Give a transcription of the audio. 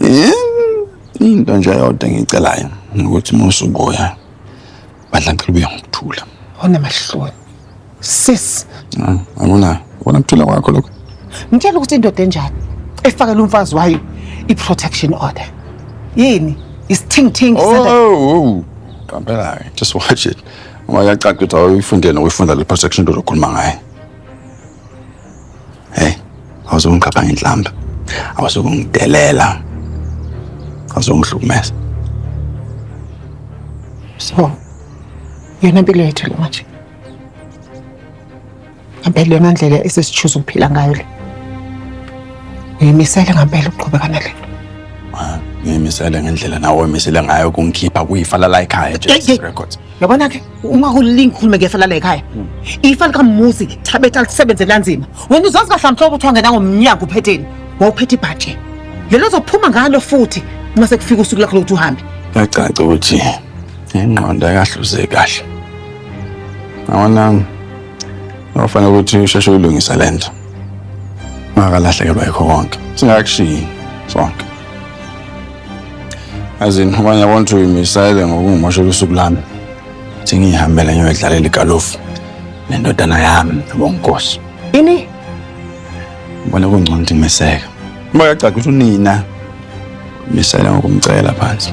Eh, into nje yodwa engiyicelayo ukuthi uma usubuya badla ngicela ubuye ngokuthula onamahloni sis Ah, akuna ubona kuthula kwakho lokho ngitshela ukuthi indoda enjani efakela umfazi wayo i-protection order yini isithingithingi oh qampela-ke just watch it uma kuyacaca ukuthi awuyifundele nokuyifunda le protection into ozokhuluma ngayo Hey, awuzongiqapha ngenhlamba. Awuzokungidelela. Awuzongihlukumeza. So, yona impilo yethu le manje. Ngempela yona ndlela esesichuza ukuphila ngayo le. Uyimisele ngempela ukuqhubeka nale nto. Ngimisele ngendlela nawe omisele ngayo kungikhipha kuyifala la ekhaya Hey, hey. just records. yabona ke ungakulili ngikhulume ke fela la ekhaya ifa likamuzi thabetha lisebenze kanzima wena uzazi kahle mhlobo ukuthi wangena ngomnyango uphetheni wawuphethe ibhaje lelo zophuma ngalo futhi uma sekufika usuku lakho lokuthi uhambe yacaca ukuthi ingqondo ayikahluze kahle awona wafanele ukuthi usheshe uyilungisa le nto ungakalahlekelwa yikho konke singakakushiyi sonke As in, abanye abantu ukuthi uyimisayele ngokungumoshela usuku lami. Thi ngiyihambele ngiyodlalela igalofu nendodana yami nobonkosi. Ini? Ngibona kungcono ukuthi ngiseke. Uma yacaca ukuthi unina misayela ngokumcela phansi.